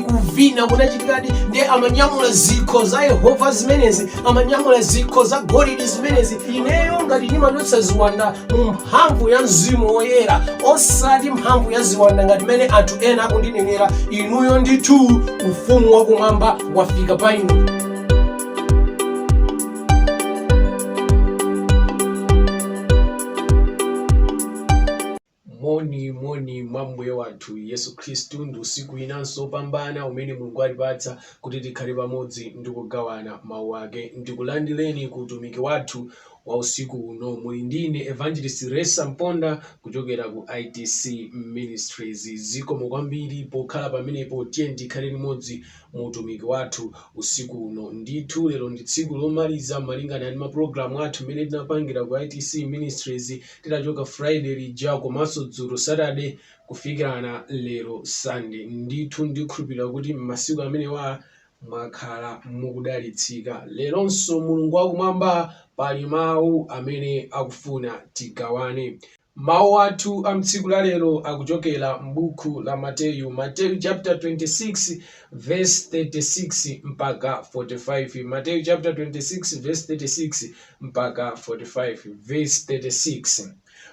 kuvina kunachitikadi ndiye amanyamula zikho za yehova zimenezi amanyamula zikho za golidi zimenezi ineyo ngati ndimachotsa ziwanda mu mphamvu ya mzimu woyera osati mphamvu ya ziwanda ngati mmene anthu ena akundinenera inuyo ndithu ufumu wakumwamba wafika pa inu Moni, moni mwa Mbuye wathu Yesu Khristu. Ndi usiku winanso wopambana umene Mulungu watipatsa kuti tikhale pamodzi ndi kugawana Mawu ake. Ndikulandireni ku utumiki wathu wa usiku uno. Muli ndi ine Evangelist Ressa Mponda kuchokera ku ITC Ministries. Zikomo kwambiri pokhala pamenepo. Tiyeni tikhale limodzi mu utumiki wathu usiku uno. Ndithu lero ndi tsiku lomaliza malingana ndi mapulogalamu athu amene tinapangira ku ITC Ministries. kuchoka friday lija komanso dzulo saturday kufikirana lero sunday ndithu ndikhulupirira kuti m'masiku amenewa mwakhala mukudalitsika leronso mulungu wakumwamba pali mawu amene akufuna tigawane mawu athu a mtsiku la lero akuchokera m'buku la mateyu mateyu chapter 26 verse 36 mpaka 45 mateyu chapter 26 verse 36 mpaka 45 vesi 36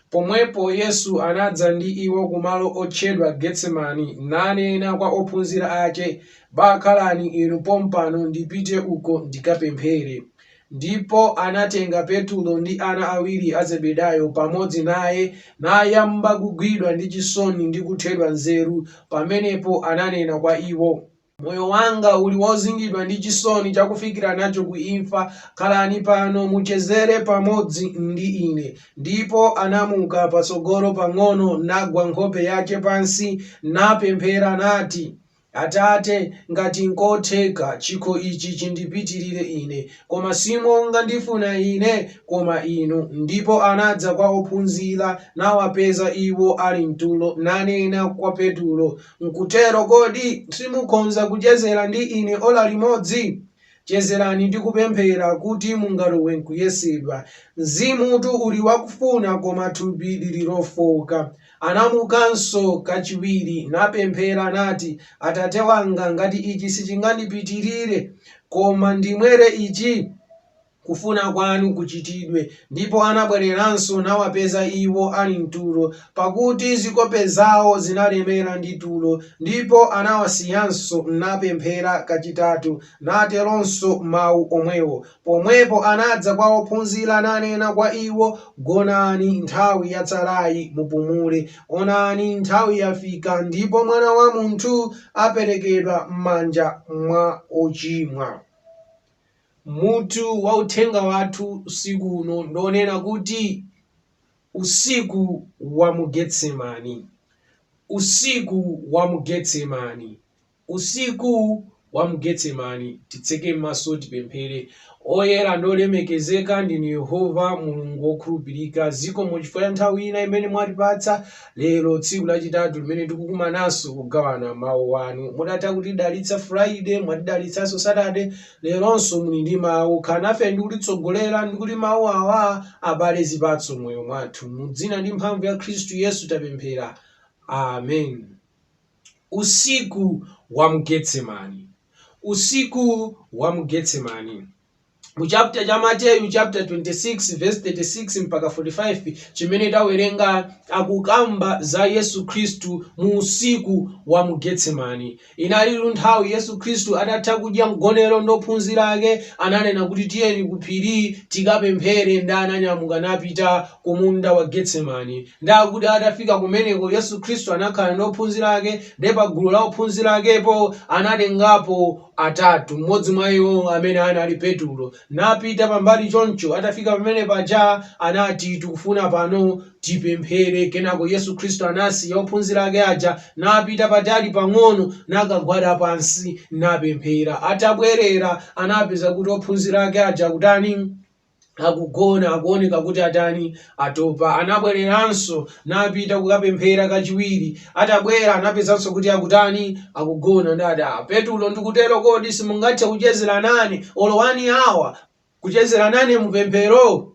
Pomwepo Yesu anadza ndi iwo kumalo otchedwa Getsemani, nanena kwa ophunzira ake, Bakhalani inu pompano, ndipite uko ndikapemphere. Ndipo anatenga Petulo ndi ana awiri a Zebedayo pamodzi naye, nayamba kugwidwa ndi chisoni ndi kuthedwa nzeru, pamenepo ananena kwa iwo, Moyo wanga uli wozingidwa ndi chisoni chakufikira nacho ku imfa. Khalani pano, muchezere pamodzi ndi ine. Ndipo anamuka patsogolo pang'ono, nagwa nkhope yake pansi, napemphera, nati, Atate, ngati nkotheka, chikho ichi chindipitirire ine, koma si monga ndifuna ine, koma inu. Ndipo anadza kwa ophunzira, nawapeza iwo ali m'tulo, nanena kwa Petulo, Nkutero kodi simukhonza kuchezera ndi ine ola limodzi? Chezerani ndi kupemphera kuti mungalowe nkuyesedwa. Mzimutu uli wakufuna, koma thupi liri lofooka. Anamukanso kachiwiri, napemphera, nati, Atate wanga, ngati ichi sichingandipitirire, koma ndimwere ichi, kufuna kwanu kuchitidwe. Ndipo anabwereranso nawapeza iwo ali m'tulo, pakuti zikope zawo zinalemera ndi tulo, ndipo anawasiyanso, napemphera kachitatu, nateronso mawu omwewo. Pomwepo anadza kwa ophunzira, nanena kwa iwo, Gonani, nthawi yatsalayi mupumule, onani, nthawi yafika, ndipo Mwana wa munthu aperekedwa m'manja mwa ochimwa. Mutu wa uthenga wathu usiku uno ndi onena kuti Usiku wa mu Getsemani. Usiku wa mu Getsemani. Usiku wa mu Getsemani. Titseke maso tipemphere. Oyera ndi olemekezeka ndinu Yehova Mulungu wokhulupirika, zikomo chifukwa cha nthawi ina imene mwatipatsa lero, tsiku lachitatu limene tikukumananso kugawana mawu anu. Mudatha kutidalitsa Friday, mwatidalitsanso Saturday, Leronso muli ndi mawu, khalani nafe ndi kutitsogolera ndi kuti mawu awa abale zipatso m'moyo mwathu. Mu dzina ndi mphamvu ya Khristu Yesu tapemphera. Amen. Usiku wa mu Getsemani. Usiku wa mu Getsemani. Mu chapter cha Mateyu chapter 26 verse 36 mpaka 45 chimene tawerenga akukamba za Yesu Khristu mu usiku wa mu Getsemani. Inalitu nthawi Yesu Khristu atatha kudya mgonero ndi ophunzira ake, ananena kuti tiyeni ku phiri tikapemphere ndi ananyamuka napita ku munda wa Getsemani. Ndi akuti atafika kumeneko Yesu Khristu anakhala ndi ophunzira ake ndi pa gulu la ophunzira akepo anatengapo atatu, mmodzi mwa iwo amene anali Petulo. napita pambali choncho atafika pamene paja anati tikufuna pano tipemphere kenako Yesu Khristu anasiya ophunzira ake aja napita patali pang'ono nakagwada pansi napemphera atabwerera anapeza kuti ophunzira ake aja akutani akugona akuoneka kuti atani Atopa, anabwereranso napita kukapemphera kachiwiri. Atabwera anapezanso kuti akutani? Akugona. Ndati Petulo ndikutero kodi simungathe kuchezera nane olo one hour? Kuchezera nane mupemphero?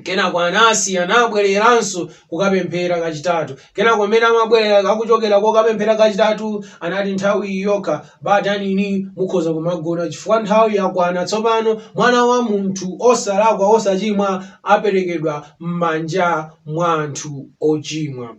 Kenako anasiya anabwereranso kukapemphera kachitatu. Kenako mmene amabwerera akuchokera kokapemphera kachitatu anati nthawi yokha ba tanini mukhoza kumagona chifukwa nthawi yakwana tsopano mwana wa munthu osalakwa osachimwa aperekedwa m'manja mwa anthu ochimwa.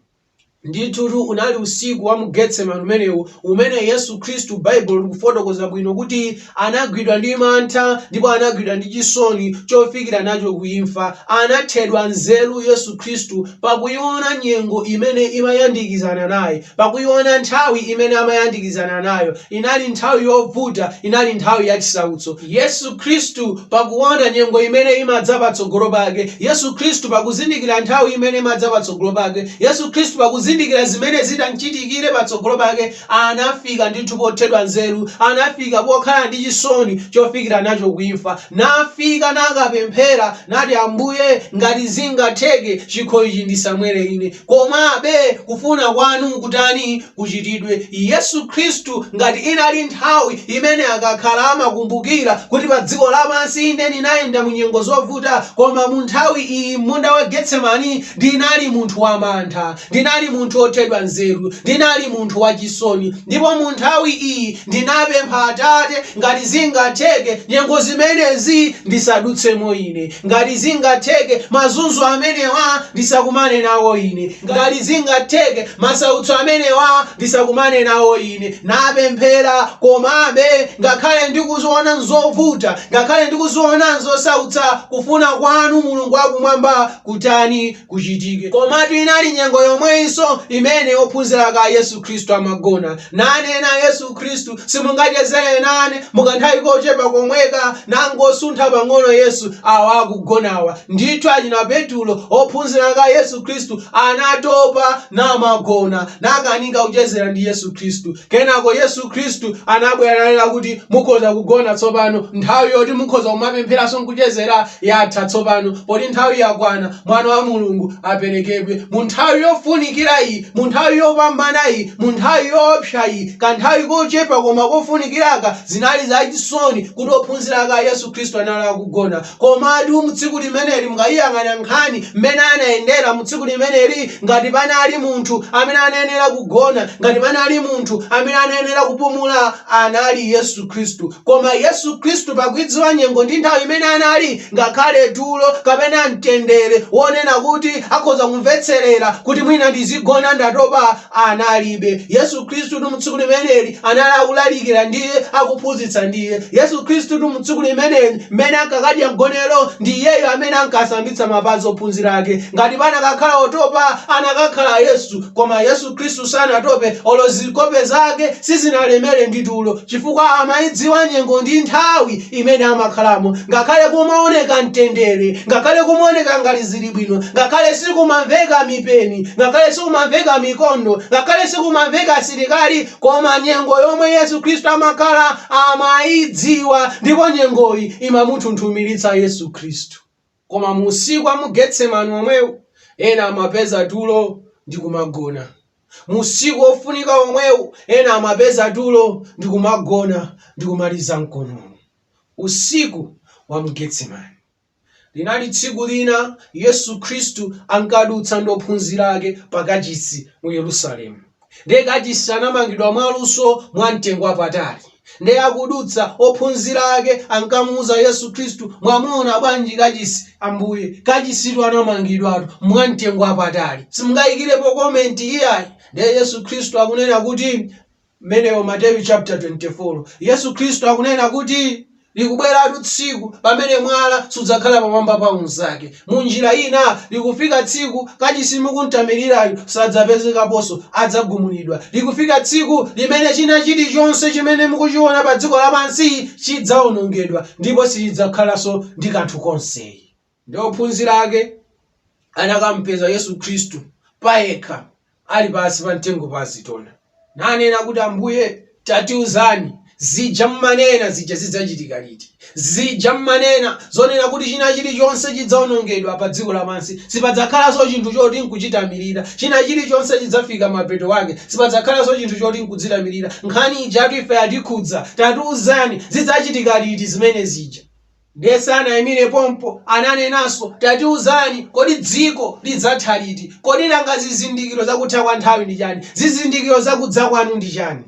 Ndithutu unali usiku wa mu Getsemani umenewu umene Yesu Khristu Baibulo likufotokoza bwino kuti Anagwidwa ndi mantha ndipo anagwidwa ndi chisoni chofikira nacho ku imfa. Anathedwa nzeru Yesu Khristu pakuiona nyengo imene imayandikizana naye, pakuiona nthawi imene amayandikizana nayo. Inali nthawi yovuta, inali nthawi ya chisautso. Yesu Khristu pakuona nyengo imene imadza patsogolo pake, Yesu Khristu pakuzindikira nthawi imene imadza patsogolo pake, Yesu Khristu pakuzindikira zimene zitamchitikire patsogolo pake, Anafika ndithu pothedwa nzeru, anafika pokhala ndi chisoni chofikira nacho ku imfa, nafika nakapemphera, nati, Ambuye, ngati zingatheke, chikho ichi ndisamwere ine, komabe kufuna kwanu kutani? kuchitidwe. Yesu Khristu, ngati inali nthawi imene akakhala amakumbukira kuti pa dziko lapansi, ine ndinayenda mu nyengo zovuta, koma mu nthawi iyi m'munda wa Getsemani ndinali munthu wamantha. Ndinali munthu wothedwa nzeru. Ndinali munthu wachisoni. Ndipo mu nthawi iyi ndinapempha Atate, ngati zingatheke, nyengo zimenezi ndisadutsemo ine. Ngati zingatheke, mazunzo amenewa ndisakumane nawo ine. Ngati zingatheke, masautso amenewa ndisakumane nawo ine. Napemphera, komabe, ngakhale ndikuziona nzovuta, ngakhale ndikuziona nzosautsa, kufuna kwanu, Mulungu wa Kumwamba, kutani. kuchitike. Komatu inali nyengo yomweyinso imene ophunzira ake a Yesu Khristu amagona, nanena Yesu Khristu, Simungachezere nane mu kanthawi kochepa komweka? Nangosuntha pang'ono Yesu, awa akugonawa. Ndithu achina Petulo, ophunzira ake a Yesu Khristu, anatopa namagona, nakanika kuchezera ndi Yesu Khristu. Kenako Yesu Khristu anabwera nanena kuti mukhoza kugona tsopano. Nthawi yoti mukhoza kumapempheranso n'kuchezera yatha tsopano, poti nthawi yakwana Mwana wa Mulungu aperekedwe. Mu nthawi yofunikira iyi, mu nthawi yopambana iyi, mu nthawi yoopsa iyi, kanthawi kochepa koma kofunikira'ka, zinali zachisoni kuti ophunzira ake a Yesu Khristu anali akugona. Komatu mu tsiku limeneli mukayiyang'ana nkhani mmene anayendera mu tsiku limeneli, ngati panali munthu amene anayenera kugona, ngati panali munthu amene anayenera kupumula, anali Yesu Khristu. Koma Yesu Khristu pakuidziwa nyengo ndi nthawi imene anali, ngakhale tulo kapena mtendere wonena kuti akhoza kumvetserera kuti mwina ndizigona ndatopa, Analibe. Yesu Khristutu mu tsiku limeneli anali akulalikira ndiye akuphunzitsa ndiye. Yesu Khristutu mu tsiku limeneli mmene ankakadya mgonero ndi Iyeyo amene ankasambitsa mapazi ophunzira ake. Ngati panakakhala otopa anakakhala Yesu koma Yesu Khristu sanatope olo zikope zake sizinalemere ndi tulo chifukwa amaidziwa nyengo ndi nthawi imene amakhalamo ngakhale kumaoneka mtendere ngakhale kumaoneka ngati zili bwino ngakhale sikumamveka mipeni ngakhale sikumamveka mikondo ngakhale sikumamveka asilikali koma nyengo yomwe yesu khristu amakhala amayidziwa ndipo nyengoyi imamunthunthumiritsa yesu khristu Koma mu usiku wa mu Getsemani omwewu, ena amapeza tulo ndi kumagona. Mu usiku wofunika omwewu, ena amapeza tulo ndi kumagona ndi kumaliza mkonono. Usiku wa mu Getsemani. Linali tsiku lina Yesu Khristu ankadutsa ndi ophunzira ake pa kachisi mu Yerusalemu. Ndiye kachisi anamangidwa mwaluso mwamtengo wapatali. Ndiye akudutsa, ophunzira ake ankamuuza Yesu Khristu, Mwamuona bwanji kachisi, Ambuye? Kachisitu anamangidwatu mwamtengo wapatali. Simungayikirepo comment iyayi. Ndiye Yesu Khristu akunena kuti, Mmenemo Mateyu chapter 24. Yesu Khristu akunena kuti. Likubweratu tsiku pamene mwala sudzakhala pamwamba pa unzake. Mu njira ina, likufika tsiku kachisi mukumtamirirayu sadzapezekaponso, adzagumulidwa. Likufika tsiku limene china chilichonse chimene mukuchiona pa dziko lapansi chidzaonongedwa ndipo sichidzakhalanso ndi kanthu konse. ndiye ophunzira ake anakampeza yesu khristu payekha ali pansi pa mtengo wa azitona nanena kuti ambuye tatiuzani zija mmanena zija zidzachitika liti zija mmanena zonena kuti china chilichonse chidzaonongedwa pa dziko lapansi sipadzakhalanso chinthu choti nkuchitamirira china chilichonse chidzafika mapeto ake sipadzakhalanso chinthu choti nkudzitamirira nkhani ijatu ife yatikhudza tatiuzani zidzachitika liti zimene zija Ndiye sanaimire pompo, ananenanso, Tatiuzani, kodi dziko lidzatha liti? Kodi nanga zizindikiro za kutha kwa nthawi ndi chani? Zizindikiro za kudza kwanu ndi chani?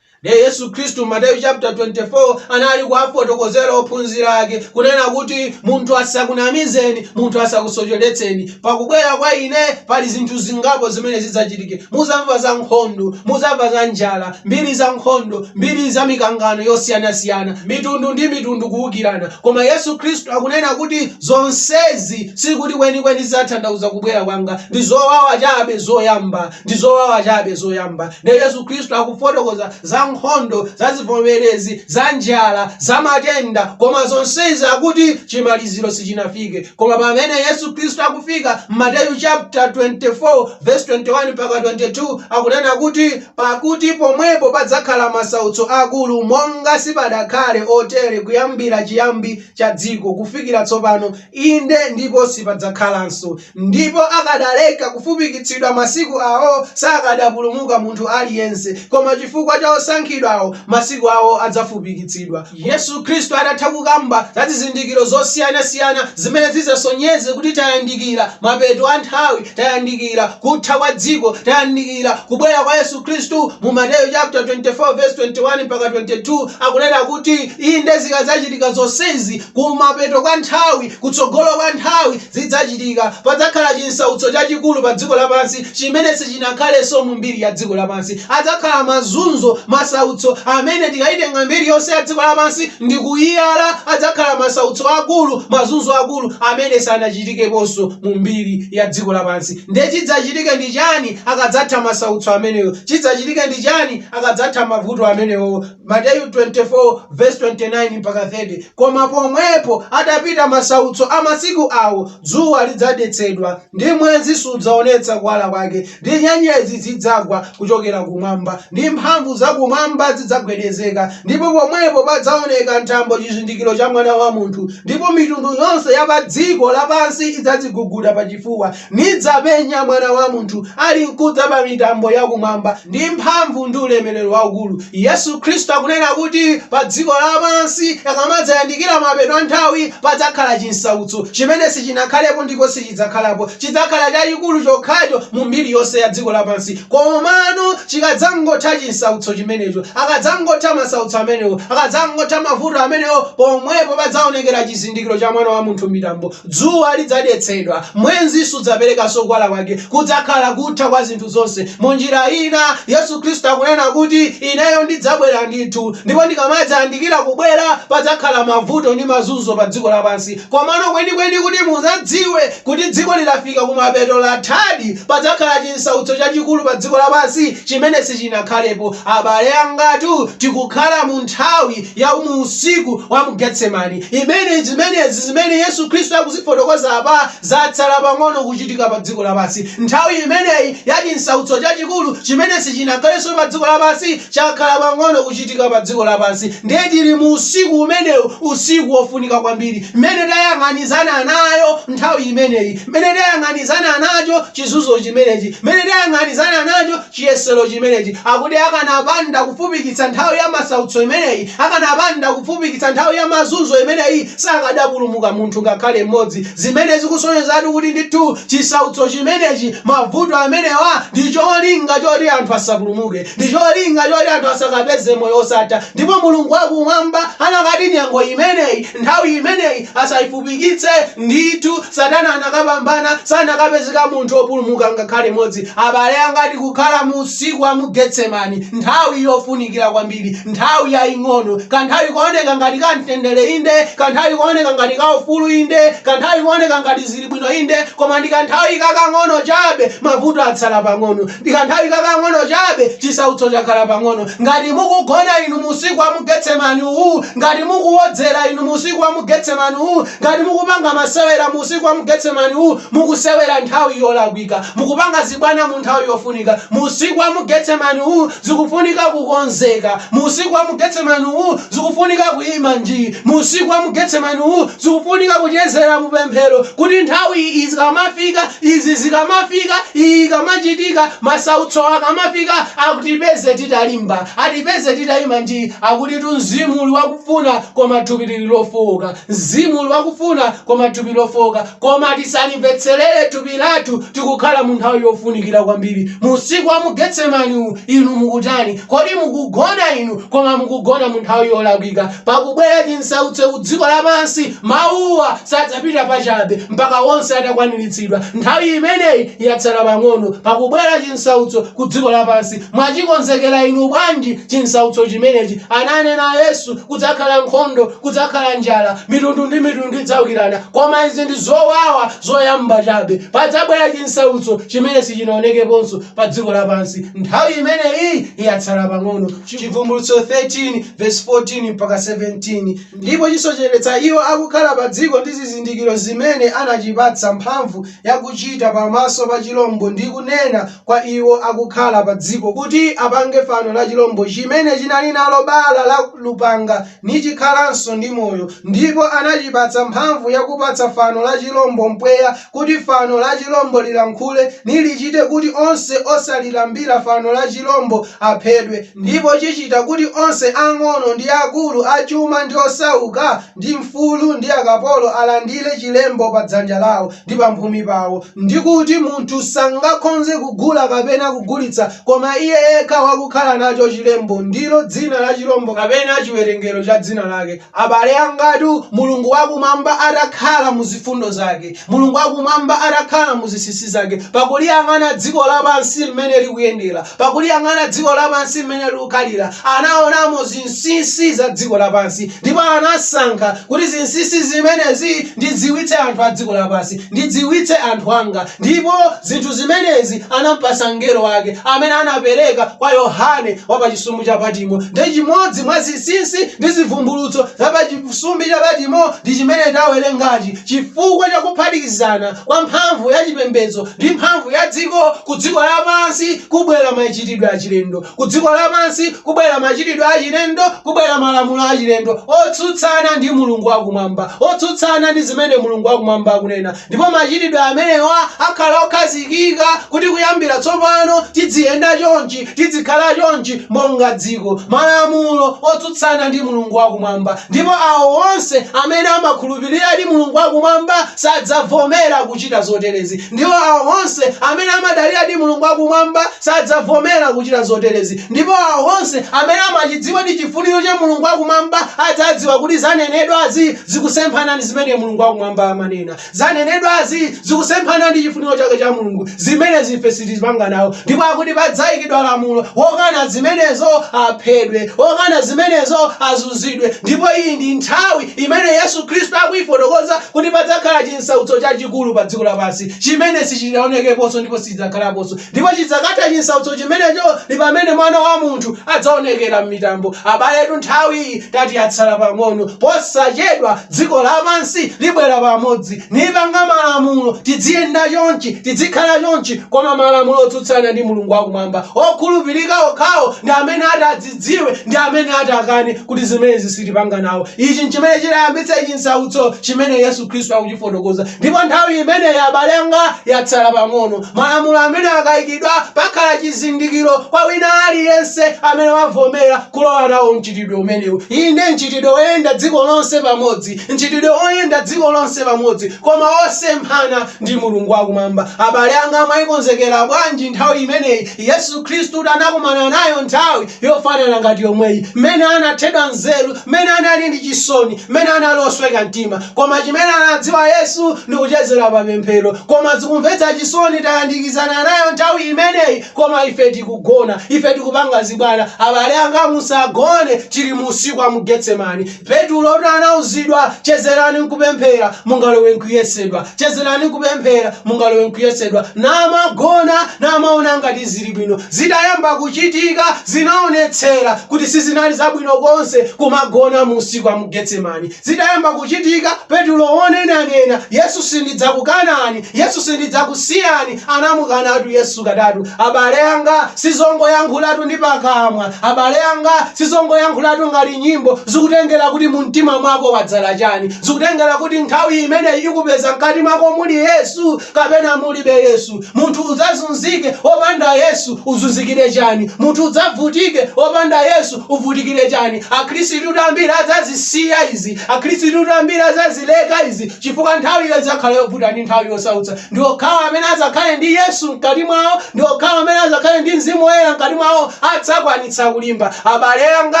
Ndiye Yesu Khristu Mateyu chapter 24 anali kuwafotokozera ophunzira ake kunena kuti munthu asakunamizeni, munthu asakusocheretseni. Pa kubwera kwa ine pali zinthu zingapo zimene zidzachitike. Muzamva za nkhondo, muzamva za njala, mbiri za nkhondo, mbiri za mikangano yosiyanasiyana, mitundu ndi mitundu kuukirana. Koma Yesu Khristu akunena kuti zonsezi sikuti kwenikweni zidzathandauza kubwera kwanga. Ndi zowawa chabe zoyamba. Ndi zowawa chabe zoyamba. Ndiye Yesu Khristu akufotokoza za nkhondo, za zivomerezi, za njala, za matenda, koma zonsezi akuti chimaliziro sichinafike. Koma pamene Yesu Khristu akufika, Mateyu chapter 24 verse 21 mpaka 22 akunena kuti, Pakuti pomwepo padzakhala masautso akulu, monga sipadakhale otere kuyambira chiyambi cha dziko kufikira tsopano, inde, ndipo sipadzakhalanso. Ndipo akadaleka kufupikitsidwa masiku awo, sakadapulumuka munthu aliyense, koma chifukwa cha osankhidwawo masiku awo adzafupikitsidwa. Yesu Khristu atatha kukamba za zizindikiro zosiyanasiyana zimene zidzasonyeze kuti tayandikira mapeto a nthawi, tayandikira kutha kwa dziko, tayandikira kubwera kwa Yesu Khristu, mu Mateyu chaputala 24 vesi 21 mpaka 22 akunena kuti, Inde, zikadzachitika zonsezi kumapeto kwa nthawi, kutsogolo kwa nthawi, zidzachitika. Padzakhala chinsautso chachikulu pa dziko lapansi chimene sichinakhalenso mu mbiri ya dziko lapansi. Adzakhala mazunzo, masautso amene tikayitenga mbiri yonse ya dziko lapansi ndi kuyiyala, adzakhala masautso akulu, mazunzo akulu amene sanachitikeponso mu mbiri ya dziko lapansi. Ndiye chidzachitike ndi chani akadzatha masautso amenewo? Chidzachitike ndi chani akadzatha mavuto amenewo? Mateyu 24:29 mpaka 30 Koma pomwepo atapita masautso a masiku awo, dzuwa lidzadetsedwa, ndi mwezi sudzaonetsa kuwala kwake, ndi nyenyezi zidzagwa kuchokera kumwamba, ndi mphamvu za kumwamba zidzagwedezeka, ndipo pomwepo padzaoneka m'thambo chizindikiro cha Mwana wa munthu, ndipo mitundu yonse ya pa dziko lapansi idzadziguguda pachifuwa, Nidzapenya Mwana wa munthu alinkudza pa mitambo ya kumwamba ndi mphamvu ndi ulemerero waukulu. Yesu Khristu akunena kuti pa dziko lapansi akamadzayandikira mapeto a nthawi padzakhala chinsautso chimene sichinakhalepo ndipo sichidzakhalapo. Chidzakhala chachikulu chokhacho mu mbiri yonse ya dziko lapansi. Komano chikadzangotha chinsautso chimenecho, akadzangotha masautso amenewo, akadzangotha mavuto amenewo, pomwepo padzaonekera chizindikiro cha Mwana wa munthu m'mitambo. Dzuwa lidzadetsedwa, mwezi sudzaperekanso kuwala kwake, kudzakhala kutha kwa zinthu zonse. Mu njira ina, Yesu Khristu akunena kuti, Ineyo ndidzabwera ndithu, ndipo ndikamadzayandikira kubwera, padzakhala mavuto ndi mazunzo pa dziko lapansi. Komano kwenikweni kuti mudzadziwe kuti dzikoli lafika kumapeto, lathadi, padzakhala chinsautso chachikulu pa dziko lapansi chimene sichinakhalepo. Abale anga tu, tikukhala mu nthawi ya mu usiku wa mu Getsemani. imene zimenezi zimene Yesu Khristu akuzifotokoza apa zatsala pang'ono kuchitika pa dziko lapansi. Nthawi imeneyi ya chinsautso chachikulu chimene sichinakhalenso pa dziko lapansi chakhala pang'ono kuchitika pa dziko lapansi. Ndiye tili mu usiku umenewu, usiku wofunika kwambiri, mmene tayang'anizana nayo nthawi imeneyi, mmene tayang'anizana nacho chizunzo chimenechi, mmene tayang'anizana nacho chiyesero chimenechi. Akuti akanapanda kufupikitsa nthawi ya masautso imeneyi, akanapanda kufupikitsa nthawi ya mazunzo imeneyi, sakadapulumuka munthu ngakhale m'modzi, zimene zikusonyezatu kuti ndithu chisautso chimenechi, mavuto amenewa ndi cholinga choti anthu asapulumuke, ndi cholinga choti anthu asakapeze moyo wosatha, ndipo Mulungu wa Kumwamba anakati nyengo imeneyi Nthawi imeneyi asaifupikitse. Ndithu, Satana anakapambana, sanakapezeka munthu opulumuka ngakhale mmodzi. Abale anga, tikukhala mu usiku wa mu Getsemani, nthawi yofunikira kwambiri, nthawi yaing'ono, kanthawi kooneka ngati ka mtendere inde, kanthawi kooneka ngati ka ufulu inde, kanthawi kooneka ngati. zili bwino inde koma ndikanthawi kakang'ono chabe mavuto atsala pang'ono ndikanthawi kakang'ono chabe chisautso chakhala pang'ono ngati mukugona inu musiku wa mu getsemani uwu ngati mukuwodzera inu musiku wa mu getsemani uwu ngati mukupanga masewera musiku wa mu getsemani uwu mukusewera nthawi yolakwika mukupanga zibwana mu nthawi yofunika musiku wa mu getsemani uwu zikufunika kukonzeka musiku wa mu getsemani uwu zikufunika kuima njii musiku wa mu getsemani uwu Zikufunika kuchezera mu pemphero kuti nthawi izi zikamafika, izi zikamafika, iyi ikamachitika, masautsowa akamafika, atipeze titalimba, atipeze titayima njii. Akuti Mzimu uli wakufuna koma thupi liri lofooka. Mzimu uli wakufuna koma thupi lofooka. Koma tisalimvetserere thupi lathu. Tikukhala mu nthawi yofunikira kwambiri. Mu usiku wa mu Getsemani uwu, inu mukutani? Kodi mukugona inu? Koma mukugona mu nthawi yolakwika. pakubwera chinsautso ku dziko lapansi, mawuwa sadzapita pachabe mpaka wonse atakwaniritsidwa. Nthawi imeneyi yatsala pang'ono. Pakubwera chinsautso ku dziko lapansi. Mwachikonzekera inu bwanji chinsautso chimenechi? Ananena Yesu, kudzakhala nkhondo, kudzakhala njala, mitundu ndi mitundu idzaukirana. Koma izi ndi zowawa zoyamba chabe. Padzabwera chinsautso chimene sichinaonekeponso pa dziko lapansi. Nthawi imeneyi yatsala pang'ono. Chivumbulutso 13 verse 14 mpaka 17 ndipo chisocheretsa iwo akukhala pa dziko ndi zizindikiro zimene anachipatsa mphamvu yakuchita pamaso pa chilombo ndi kunena kwa iwo akukhala pa dziko kuti apange fano la chilombo chimene chinali nalo bala la lupanga nichikhalanso ndi moyo ndipo anachipatsa mphamvu yakupatsa fano la chilombo mpweya kuti fano la chilombo lilankhule, nilichite kuti onse osalilambira fano la chilombo aphedwe, ndipo chichita kuti onse ang'ono ndi akulu, achuma ndi osauka, ndi mfulu ndi akapolo alandire chilembo pa dzanja lawo, ndi pamphumi pawo, ndi kuti munthu sangakhonze kugula kapena kugulitsa koma iye yekha wakukhala nacho chilembo, ndilo dzina la chilombo kapena chiwerengero cha dzina lake. Abale angatu, Mulungu wa Kumwamba atakhala mu zifundo Zake, Mulungu wa Kumwamba atakhala mu zinsinsi Zake, pakuliyang'ana dziko lapansi mmene likuyendera, pakuliyang'ana dziko lapansi mmene likukhalira, anaonamo zinsinsi za dziko lapansi, ndipo anasankha kuti zinsinsi zimenezi ndidziwitse anthu a dziko lapansi, ndidziwitse anthu anga, ndipo zinthu zimenezi anampatsa mngelo wake, amene anapereka kwa Yohane wa pa chisumbu cha Patimo. Ndi chimodzi mwa zinsinsi ndi zivumbulutso za pa chisumbu cha Patimo ndi chimene tawerengachi, chifukwa cha kuphatikizana kwa mphamvu ya chipembedzo ndi mphamvu ya dziko ku dziko lapansi kubwera machitidwe achilendo. Ku dziko lapansi kubwera machitidwe achilendo, kubwera malamulo achilendo otsutsana ndi Mulungu wa Kumwamba, otsutsana ndi zimene Mulungu wa Kumwamba akunena. Ndipo machitidwe amenewa akhala okhazikika, kuti kuyambira tsopano tidziyenda chonchi, tidzikhala chonchi, monga dziko. Malamulo otsutsana ndi Mulungu wa Kumwamba! Ndipo awo onse amene amakhulupiriradi Mulungu wa Kumwamba sadzavomera kuchita zoterezi. Ndipo awo onse amene amadaliradi Mulungu wa Kumwamba sadzavomera kuchita zoterezi, ndipo awo onse amene amachidziwadi chifuniro cha Mulungu wa Kumwamba adzadziwa kuti zanenedwazi zikusemphana ndi zimene Mulungu wa Kumwamba amanena. Zanenedwazi zikusemphana ndi chifuniro chake cha Mulungu. Zimenezi ife sitipanga nawo. Ndipo akuti padzaikidwa lamulo, wokana zimenezo aphedwe, wokana zimenezo azunzidwe. Ndipo iyi ndi nthawi imene Yesu Khristu akuifotokoza kuti padzakhala chinsautso chachikulu pa dziko lapansi chimene sichidaonekeponso ndipo sichidzakhalaponso. Ndipo chidzakatha chinsautso chimenecho ndi pamene Mwana wa munthu adzaonekera m'mitambo. Abaletu, nthawiyi tati yatsala pang'ono. Posachedwa, dziko lapansi libwera pamodzi, nipanga malamulo, tidziyenda chonchi, tidzikhala chonchi, koma malamulo otsutsana ndi Mulungu wakumwamba. Okhulupirika okhawo ndi amene ati adzikhululukidwe. adzidziwe ndi amene ati akane kuti zimenezi sitipanga nawo. Ichi nchimene chidzayambitsa chinsautso chimene Yesu Khristu akuchifotokoza. Ndipo nthawi imeneyi, abale anga, yatsala pang'ono. Malamulo amene akaikidwa, pakhala chizindikiro kwa wina aliyense amene wavomera kulowa nawo mchitidwe umenewu. Inde, mchitidwe woyenda dziko lonse pamodzi, mchitidwe woyenda dziko lonse pamodzi koma wosemphana ndi Mulungu wakumwamba. Abale anga, mwaikonzekera bwanji nthawi imeneyi? Yesu Khristutu anakumana nayo nthawi yofanana ngati yomweyi, mmene anathedwa nzeru, mmene anali ndi chisoni, mmene anali osweka mtima. Koma chimene anadziwa Yesu ndi kuchezera pa pemphero. Koma zikumvetsa chisoni tayandikizana nayo nthawi imeneyi koma ife tikugona. Ife tikupanga zibwana. Abale anga musagone, tili mu usiku wa mu Getsemani. Petulotu anauzidwa, Chezerani n'kupemphera, mungalowe m'kuyesedwa. Chezerani n'kupemphera, mungalowe m'kuyesedwa. Namagona, namaona ngati zili bwino. Zitayamba kuchitika, zinaonetsera kuti sizinali zabwino konse kumagona mu usiku wa mu Getsemani. Zitayamba kuchitika, Petulo wonena-nena, Yesu sindidzakukanani, Yesu sindidzakusiyani. Anamukanatu Yesu katatu. Abale anga, sizongoyankhulatu ndi pakamwa. Abale anga, sizongoyankhulatu ngati nyimbo. Zikutengera kuti mu mtima mwako wadzala chani. Zikutengera kuti nthawi imene ikupeza mkati mwako muli Yesu kapena mulibe Yesu. Munthu udzazunzike opanda Yesu, uzunzikire chani. Munthu udzavutike opanda Yesu, uvutikire chani. Akhrisitu ambiri adzazisiya izi. Akhrisitu ambiri adzazileka izi. Chifukwa nthawiyo idzakhala yobvuta ndi nthawi yosautsa, ndi okhawa amene adzakhale ndi Yesu mkati mwawo ndi okhawa amene adzakhale ndi Mzimu Woyera mkati mwawo adzakwanitsa kulimba. Abale anga,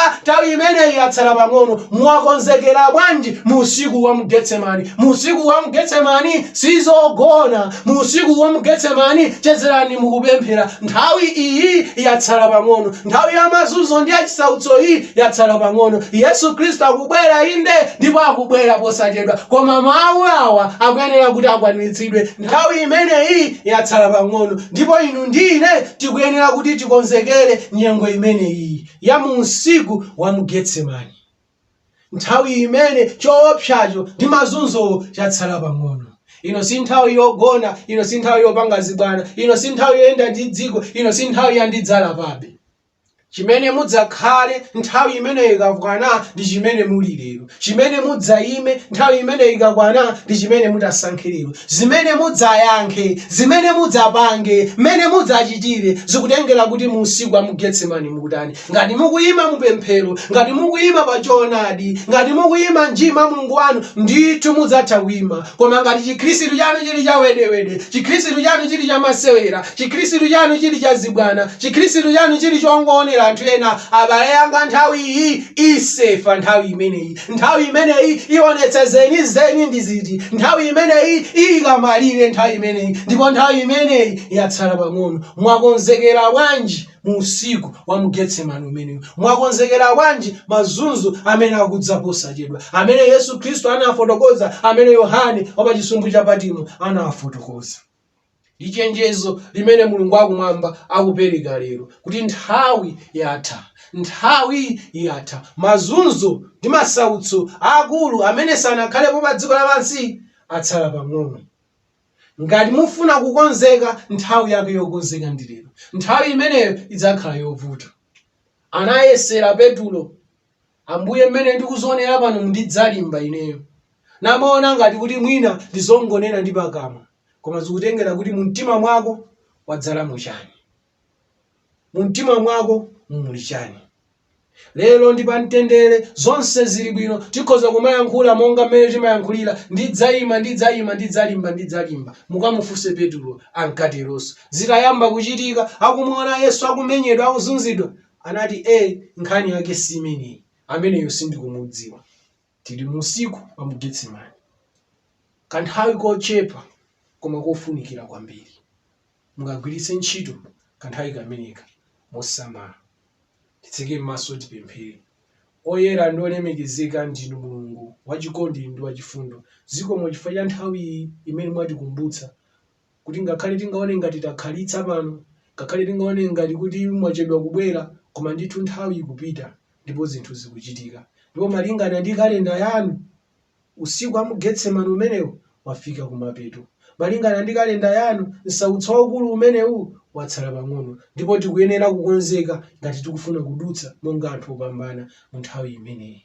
nthawi imeneyi yatsala pang'ono. Mwakonzekera bwanji mu usiku wa mu Getsemani? Mu usiku wa mu Getsemani, sizogona. Mu usiku wa mu Getsemani, chezerani mu kupemphera. Nthawi iyi yatsala pang'ono. Nthawi ya mazunzo ndi ya chisautso iyi yatsala pang'ono. Yesu Khristu akubwera, inde, ndipo akubwera posachedwa. Koma mawu awa akuyenera kuti akwaniritsidwe. Nthawi imeneyi yatsala pang'ono, ndipo inu ndi ine tikuyenera kuti tikonzekere nyengo imeneyi ya mu usiku wa mu Getsemani. nthawi imene choopsacho ndi mazunzo chatsala pang'ono ino si nthawi yogona ino si nthawi yopanga zibwana ino si nthawi yoyenda ndi dziko ino si nthawi ya ndidzalapabe chimene mudzakhale nthawi imeneyo ikakwana ndi chimene muli lero chimene mudzayime nthawi imeneyo ikakwana ndi chimene mutasankhe lero zimene mudzayankhe zimene mudzapange mmene mudzachitire zikutengera kuti mu usiku wa mu getsemani mukutani Ngati mukuyima mu pemphero, ngati mukuyima pa choonadi, ngati mukuyima nji mwa Mulungu wanu, ndithu mudzatha kuyima. Koma ngati chikhristu chanu chili cha wedewede, chikhristu chanu chili cha masewera, chikhristu chanu chili cha zibwana, chikhristu chanu chili chongoonera anthu ena, abale anga nthawi iyi isefa nthawi imeneyi. Nthawi imeneyi iwonetsa zenizeni ndi ziti. Nthawi imeneyi iyika malire nthawi imeneyi ndipo nthawi imeneyi yatsala pang'ono. Mwakonzekera bwanji? mu usiku wa mu Getsemani umeneyu? Mwakonzekera bwanji mazunzo amene akudza posachedwa, amene Yesu Khristu anafotokoza, amene Yohane wa pa chisumbu cha Patimo anafotokoza? Ndi chenjezo limene Mulungu wakumwamba akupereka lero kuti nthawi yatha, nthawi yatha. Mazunzo ndi masautso aakulu amene sanakhalepo pa dziko lapansi atsala pang'ono. Ngati mufuna kukonzeka, nthawi yake yokonzeka ndi lero. Nthawi imeneyo idzakhala yovuta. Anayesera Petulo, Ambuye, mmene ndikuzionera pano ndidzalimba ineyo. Namaona ngati kuti mwina n'zongonena ndi pakamwa, koma zikutengera kuti mu mtima mwako wadzalamo chani. mu mtima mwako muli chani lero ndi pamtendere zonse zili bwino tikhoza kumayankhula monga mmene timayankhulira ndidzaima ndidzaima ndidzalimba ndidzalimba mukamufunse petulo ankateronso zitayamba kuchitika akumuona yesu akumenyedwa akuzunzidwa anati e nkhani yake si imeneyi ameneyo sindikumudziwa Tili mu usiku wa mu Getsemane, kanthawi kochepa koma kofunikira kwambiri. Mukagwiritse ntchito kanthawi kameneka mosamala. Titseke m'maso tipemphere. Oyera ndi olemekezeka ndinu Mulungu wachikondi ndi wachifundo. Zikomo chifukwa cha nthawi iyi imene mwatikumbutsa kuti ngakhale tingaone ngati takhalitsa pano, ngakhale tingaone ngati kuti mwachedwa kubwera, koma ndithu nthawi ikupita ndipo zinthu zikuchitika. Ndipo malingana ndi kalenda yanu, usiku wa mu Getsemane umenewu wafika kumapeto. Malingana ndi kalenda yanu, nsautso waukulu umenewu watsala pang'ono, ndipo tikuyenera kukonzeka ngati tikufuna kudutsa monga anthu opambana mu nthawi imeneyi.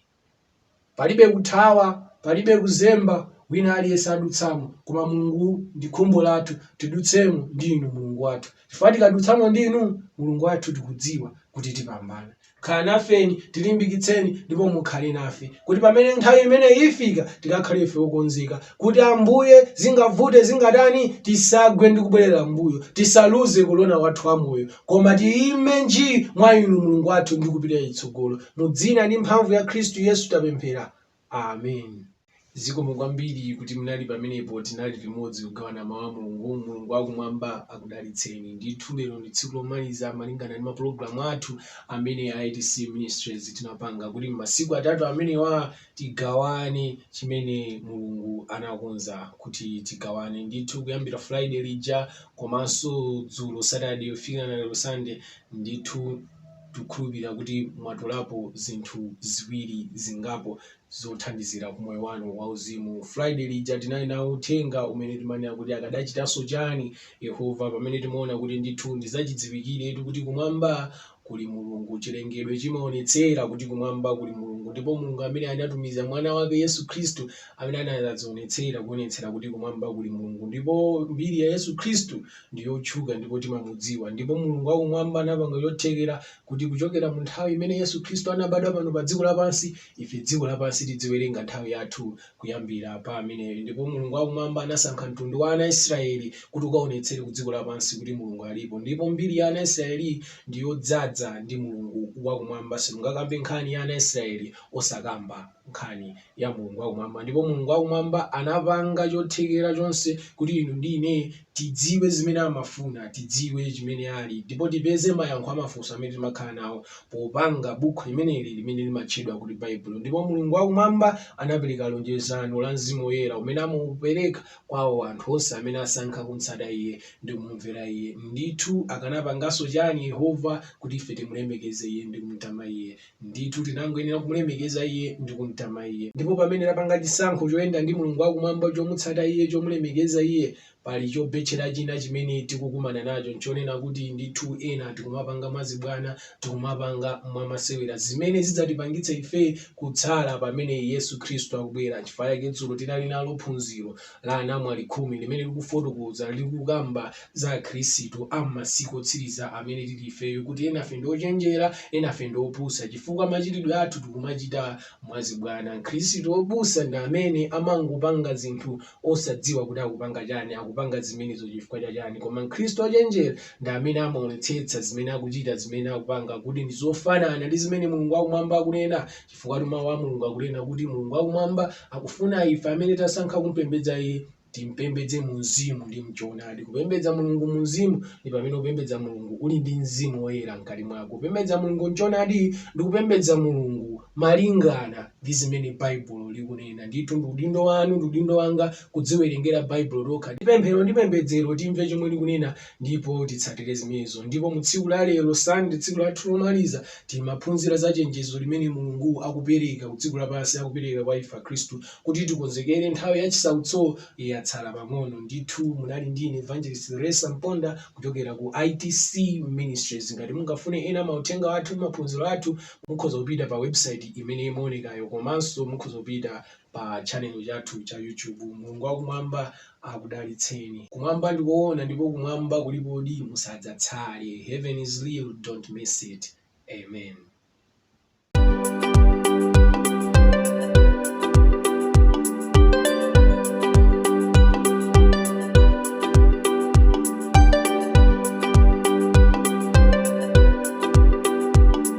Palibe kuthawa, palibe kuzemba, wina aliyense adutsamo, koma Mulungu ndi khumbo lathu tidutsemo ndi Inu Mulungu wathu, chifukwa tikadutsamo ndi Inu Mulungu wathu tikudziwa kuti tipambana. Khala nafeni, tilimbikitseni ndipo mukhale nafe kuti pamene nthawi imeneyi ifika tikakhale ife okonzeka kuti Ambuye zingavute zingatani tisagwe ndi kubwerera m'mbuyo, tisaluze kolona wathu wa moyo, Koma tiime nji mwa Inu, Mulungu wathu, ndi kupita chitsogolo. Mu Dzina ndi Mphamvu ya Khristu Yesu tapemphera. Amen. Zikomo kwambiri kuti munali pamenepo, tinali limodzi kugawana Mawu a Mulungu. Mulungu wa Kumwamba akudalitseni. Ndithu lero ndi tsiku lomaliza malingana ndi mapulogalamu athu amene a ITC Ministries tinapanga kuti m'masiku atatu amenewa tigawane chimene Mulungu anakonza kuti tigawane. Ndithu kuyambira Friday lija komanso dzulo Saturday kufikira na lero Sunday, ndithu tikukhulupirira kuti mwatolapo zinthu ziwiri zingapo zothandizira ku moyo wanu wauzimu. Friday lija tinali nawo uthenga umene timanena kuti akadachitanso chani Yehova, pamene timaona kuti ndithu ndizachidziwikiretu kuti kumwamba kuli Mulungu. Chilengedwe chimaonetsera kuti kumwamba kuli Mulungu ndipo Mulungu amene anatumiza mwana wake Yesu Khristu amene anadzadzionetsera kuonetsera kuti kumwamba kuli Mulungu. Ndipo mbiri ya Yesu Khristu ndi yotchuka ndipo timamudziwa. Ndipo Mulungu wakumwamba anapanga chothekera kuti kuchokera mu nthawi imene Yesu Khristu anabadwa pano pa dziko lapansi, ife dziko lapansi tidziwerenga nthawi yathu kuyambira pa ameneyo. Ndipo Mulungu wakumwamba anasankha mtundu wa ana Israeli kuti ukaonetsere ku dziko lapansi kuti Mulungu alipo. Ndipo mbiri ya ana Israeli ndi yodzadza ndi Mulungu wakumwamba. Simungakambe nkhani ya ana Israeli osakamba nkhani ya Mulungu wakumwamba. Ndipo Mulungu wakumwamba anapanga chothekera chonse kuti inu ndi ine Tidziwe zimene amafuna, tidziwe chimene ali, ndipo tipeze mayankho a mafunso amene timakhala nawo popanga bukhu limeneli limene limatchedwa kuti Baibulo. Ndipo Mulungu wa Kumwamba anapereka lonjezano la Mzimu Woyera umene amaupereka kwa awo anthu onse amene asankha kumtsata Iye ndi kumumvera Iye. Ndithu, akanapanganso chani Yehova kuti ife timulemekeze Iye ndi kumtama Iye? Ndithu tinangoyenera kumulemekeza Iye ndi kumtama Iye. Ndipo pamene tapanga chisankho choyenda ndi Mulungu wa Kumwamba, chomutsata Iye, chomulemekeza Iye, pali chobetchera china chimene tikukumana nacho, nchonena kuti ndithu ena tikumapanga mwazibwana, tikumapanga mwamasewera, zimene zidzatipangitse ife kutsala pamene Yesu Khristu akubwera. Nchifukwa chake dzulo tinali nalo phunziro, la anamwali khumi limene likufotokoza, likukamba za Akhristu a m'masiku otsiriza amene tili ifeyo, kuti enafe ndi ochenjera, enafe ndi opusa chifukwa machitidwe athu tikumachita mwazibwana. Mkhristu opusa ndi amene amangopanga zinthu osadziwa kuti akupanga chani, akupanga zimenezo chifukwa cha chani. Koma Mkhristu ochenjera ndi amene amaonetsetsa zimene akuchita, zimene akupanga kuti ndi zofanana ndi zimene Mulungu wakumwamba akunena. chifukwatu mawu a mulungu akunena kuti mulungu wakumwamba akufuna ife amene tasankha kumpembedza iye timpembedze mu mzimu ndi mchoonadi kupembedza mulungu mu mzimu ndi pamene kupembedza mulungu uli ndi mzimu woyera mkati mwako kupembedza mulungu mchoonadi ndi kupembedza mulungu malingana ndi zimene baibulo likunena ndithu ndi udindo wanu ndi udindo wanga kudziwerengera baibulo tokha ndi pemphero ndi pembedzero timve chomwe likunena Ndipo titsatire zimenezo. Ndipo mu tsiku la lero, Sunday, tsiku lathu lomaliza, timaphunzira za chenjezo limene Mulungu akupereka ku dziko lapansi, akupereka kwa ife Akhristu, kuti tikonzekere nthawi ya chisautso, yatsala pang'ono. Ndithu, munali ndi ine, Evangelist Theresa Mponda, kuchokera ku ITC Ministries. Ngati mungafune ena a mauthenga athu ndi maphunziro athu, mukhoza kupita pa website imene imaonekayo, komanso mukhoza kupita. pa channel chathu cha YouTube. Mulungu wakumwamba akudalitseni. Kumwamba ndi koona ndipo kumwamba kulipodi, musadzatsale. Heaven is real, don't miss it. Amen.